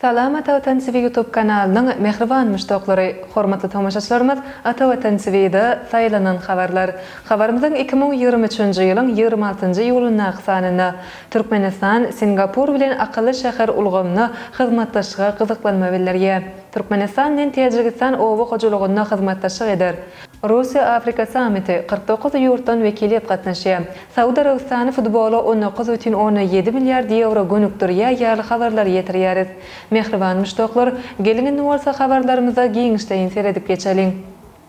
Salam Ata Watan TV YouTube kanalynyň mähriban muşdaklary, hormatly tomaşaçylarymyz Ata Watan TVda saýlanan habarlar. Habarymyzyň iki müň ýigrimi üçünji ýylyň ýigrimi altynjy iýulyndaky sanynda Türkmenistan Singapur bilen akylly şäher ulgamynda hyzmatdaşlyga gyzyklanma bildirýär. Türkmenistan bilen Täjigistan oba hojalygynda hyzmatdaşlyk eder. Russiýa-Afrika sammiti, kyrk dokuz ýurtdan wekiliýet gatnaşýar. Saud Arabystany futbola on dokuz bütin ondan ýedi milliard ýewro gönükdirýär ýaly habarlary ýetirýäris. Mähriban muşdaklar, geliň indi bolsa habarlarymyza giňişleýin seredip geçeliň.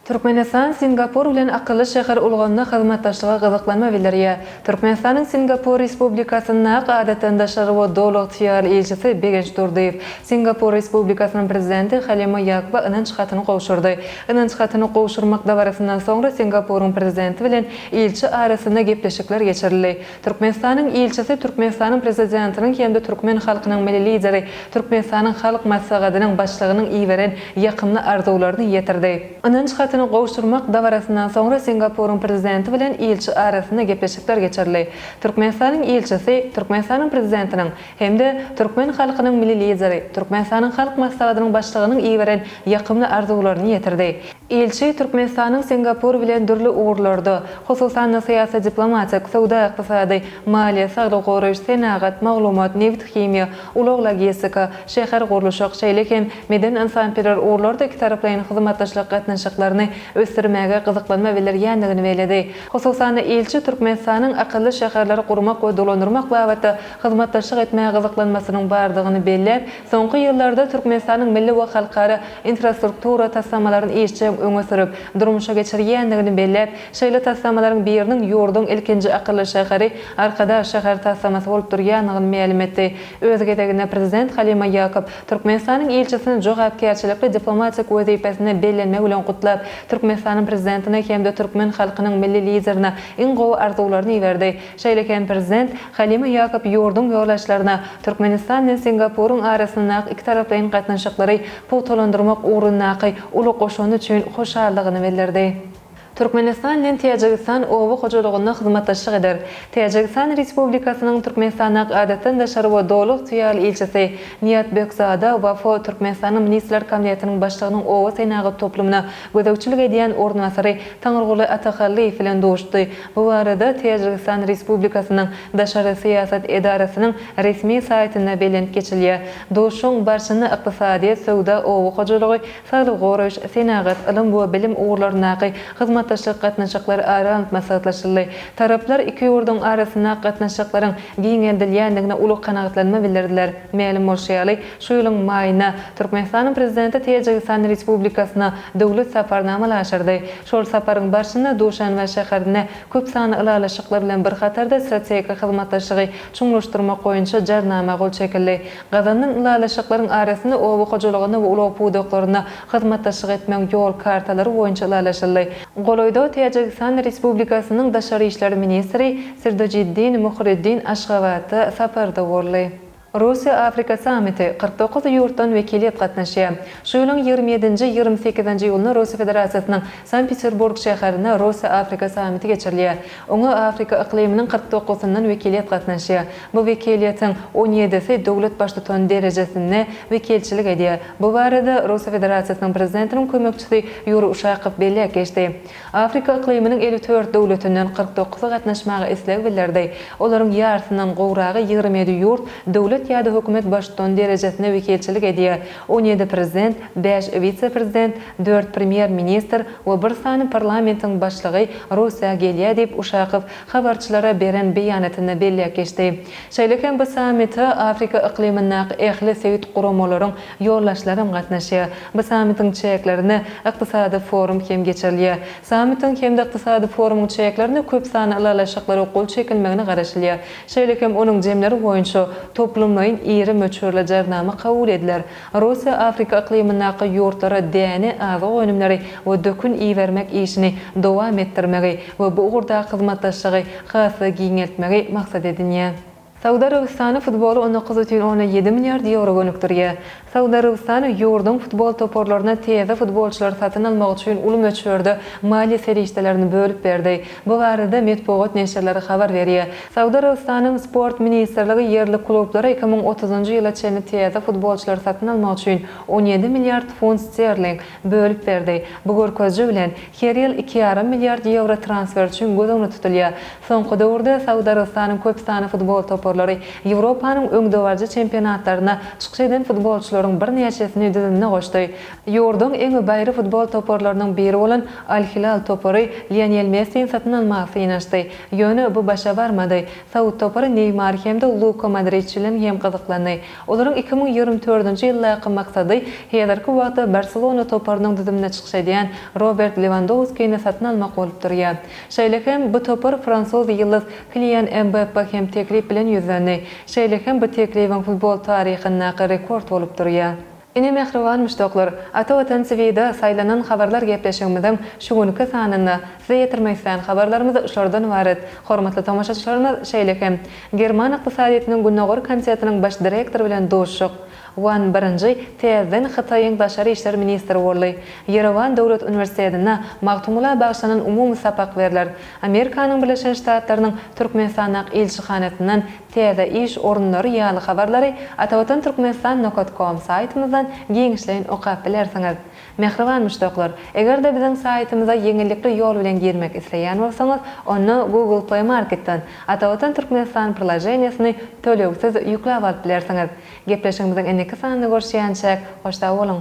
Türkmenistan Singapur bilen akylly şäher ulgamynda hyzmatdaşlyga gyzyklanma bildirýär. Türkmenistanyň Singapur Respublikasynda ak adatdan daşary we doly ygtyýarly ilçisi Begenç Durdyýew Singapur Respublikasynyň Prezidenti Halima Ýakuba ynanç hatyny gowşurdy. Ynanç hatyny gowşurmak dabarasyndan soňra Singapuryň Prezidenti bilen ilçi arasynda gepleşikler geçirildi. Türkmenistanyň ilçisi Türkmenistanyň Prezidentiniň hem-de türkmen halkynyň Milli Lideri, Türkmenistanyň Halk Maslahadynyň Başlygynyň iberen ýakymly arzuwlaryny ýetirdi. Ynanç hatyny gowşurmak dabarasyndan soňra Singapuryň Prezidenti bilen ilçi arasynda gepleşikler geçirildi. Türkmenistanyň ilçisi Türkmenistanyň Prezidentiniň, hem-de türkmen halkynyň Milli Lideri, Türkmenistanyň Halk Maslahatynyň Başlygynyň iberen ýakymly arzuwlaryny ýetirdi. Ilçi Türkmenistanyň Singapur bilen dürli ugurlarda, hususan-da, syýasy-diplomatik, söwda-ykdysady, maliýe, saglygy goraýyş, senagat, maglumat, nebit-himiýa, ulag-logistika, şäher gurluşyk, şeýle hem medeni-ynsanperwer ugurlarda ikitaraplaýyn hyzmatdaşlyk gatnaşyklaryny ösdürmäge gyzyklanma bildirýändigini belledi. Hususan-da, ilçi Türkmenistanyň akylly şäherleri gurmak we dolandyrmak babatda hyzmatdaşlyk etmäge gyzyklanmasynyň bardygyny belläp, soňky ýyllarda Türkmenistanyň milli we halkara infrastruktura taslamalaryny işjeň öňe sürüp, durmuşa geçirýändigini belläp, şeýle taslamalaryň biriniň ýurduň ilkinji akylly şäheri Arkadag şäher taslamasy bolup durýandygyny mälim etdi. Öz gezeginde Prezident Halima Ýakup Türkmenistanyň ilçisini jogapkärçilikli diplomatik wezipesine bellenmegi bilen gutlap, Türkmenistanyň Prezidentine hem-de türkmen halkynyň Milli Liderine iň gowy arzuwlaryny iberdi. Şeýle hem Prezident Halima Ýakob ýurduň ýolagçylaryna Türkmenistan bilen Singapuryň arasyndaky ikitaraplaýyn gatnaşyklary pugtalandyrmak ugrundaky uly goşandy üçin hoşallygyny bildirdi. Türkmenistan bilen Täjigistan oba hojalygynda hyzmatdaşlyk eder. Täjigistan Respublikasynyň Türkmenistandaky Adatdan daşary we Doly ygtyýarly ilçisi Niýat Bökzada Wafo Türkmenistanyň Ministrler Kabinetiniň Başlygynyň oba senagat toplumyna Gözegçilik edýän ornasary Taňryguly Atahallyýew bilen duşdy. Bu barada Täjigistan Respublikasynyň Daşary syýasat edarasynyň resmi saýtynda belent geçilýär. Duşuşygyň barşynda ykdysadyýet, söwda, oba hojalygy, saglygy goraýyş, senagat, ylym we bilim ugurlaryndaky hyzmatdaşlyk gatnaşyklary ara alnyp maslahatlaşyldy. Taraplar iki ýurduň arasyndaky gatnaşyklaryň giňeldilýändigine uly kanagatlanma bildirdiler. Mälim bolşy ýaly, Şu ýylyň maýynda Türkmenistanyň Prezidenti Täjigistan Respublikasyna döwlet saparyny amala aşyrdy. Şol saparyň barşynda Duşanbe şäherinde köp sanly ylalaşyklar bilen bir hatarda strategik hyzmatdaşlygy çuňlaşdyrmak boýunça Jarnama gol çekildi. Gazanylan ylalaşyklaryň arasynda oba hojalygynda we ulag pudaklarynda hyzmatdaşlyk etmegiň ýol kartalary boýunça ylalaşyldy. Golaýda Täjigistan Respublikasynyň daşary işler ministri Sirdojiddin Muhriddin Aşgabatda saparda boldy. Russiýa-Afrika sammiti, kyrk dokuz ýurtdan wekiliýet gatnaşýar. Şu ýylyň ýigrimi ýedinji, ýigrimi sekizinji iýulynda Russiýa Federasiýasynyň Sankt-Peterburg şäherinde Russiýa-Afrika sammiti geçirilýär. Oňa Afrika yklymynyň kyrk dokuzyndan wekiliýet gatnaşýar. Bu wekiliýetiň on ýedisi döwlet baştutany derejesinde wekilçilik edýär. Bu barada Russiýa Federasiýasynyň Prezidentiniň kömekçisi Ýuriý Uşakow belläp geçdi. Afrika yklymynyň elli dört döwletinden kyrk dokuz gatnaşmaga isleg bildirdi. Olaryň ýarysyndan gowragy, ýigrimi ýedi ýurt, döwlet ýa-da hökümet baştutany derejesinde wekilçilik edýär, on ýedi prezident, bäş wise-prezident, dört premýer-ministr we bir sany parlamentiň başlygy Russiýa gelýär diýip, Uşakow habarçylara beren beýanatynda belläp geçdi. Şeýle hem bu sammite Afrika yklymyndaky ähli sebit guramalaryň Ýoldaşlaram gatnaşýar. Bu sammitiň çäklerinde ykdysady forum hem geçirilýär. Sammitiň hem-de ykdysady forumyň çäklerinde köp sanly ylalaşyklara gol çekilmegine garaşylýar. Şeýle hem onuň jemleri boýunça toplumlaýyn iri möçberli jarnama kabul ediler. Russiýa Afrika yklymyndaky ýurtlara däne, azyk önümleri we dökün ibermek işini dowam etdirmegi we bu ugurdaky hyzmatdaşlygy has-da giňeltmegi maksat edinýär. Saud Arabystany futboly on dokuz butün ona ýedi milliard ýewro gönükdirýär. Saud Arabystany ýurduň futbol toparlaryna täze futbolçylary satyn almak üçin uly möçberde maliýe serişdelerini bölüp berdi. Bu barada metbugat neşirleri habar berýär. Saud Arabystanyň Sport ministrligi ýerli klublara iki müň otuzynjy ýyla çenli täze futbolçylary satyn almak üçin on ýedi milliard funt sterling bölüp berdi. Bu görkeziji bilen, her ýyl iki ýarym milliard ýewro transfer üçin göz öňünde tutulýar. Soňky döwürde Saud Arabystanyň köp sanly futbol toparlary Ýewropanyň öňdebaryjy çempionatlaryna çykyş eden futbolçylaryň birnäçesini düzümine goşdy. Ýurduň iň baýry futbol toparlarynyň biri bolan Al-Hilal topary Lionel Messini satyn almaga synanyşdy. Ýöne bu başa barmady. Saud topary Neýmar hem-de Luka Modriç bilen hem gyzyklandy. Olaryň iki müň ýigrimi dördünji ýyldaky maksady häzirki wagtda Barselona toparynyň düzümine çykyş edýän Robert Lewandowskini satyn almak bolup durýar. Şeýle hem, bu topar fransuz ýyldyz Kilian Mbappa hem teklip bilen ýüzlendi. Şeýle hem, bu teklibiň futbol taryhyndaky rekord bolup durýar. Ine mähriban muşdaklar, Ata Watan TVda saýlanan habarlar gepleşigimiziň şu günki sanynda size ýetirmek islän habarlarymyz şulardan ybarat. Hormatly tomaşaçylarymyz, şeýle hem, German ykdysadyýetiniň Gündogar komitetiniň baş direktory bilen duşuşyk, Wan birinji täzeden Hytaýyň daşary işler ministri boldy. Ýerewan döwlet uniwersitetinde Magtymgula bagyşlanan umumy sapak berler. Amerikanyň Birleşen Ştatlarynyň Türkmenistandaky ilçihanasyndan täze iş orunlary ýaly habarlary Atavatan Türkmenistan nokat kom saýtymyzdan giňişleýin okap bilersiňiz. Mähriban muşdaklar, eger-de biziň saýtymyza ýeňillikli ýol bilen girmek isleýän bolsaňyz, onda Google Play Marketden Atavatan Türkmenistan priloženiýesini tölegsiz ýükläp alyp bilersiňiz. Gepleşigimiziň indiki sanynda görüşýänçäk, hoş sag boluň!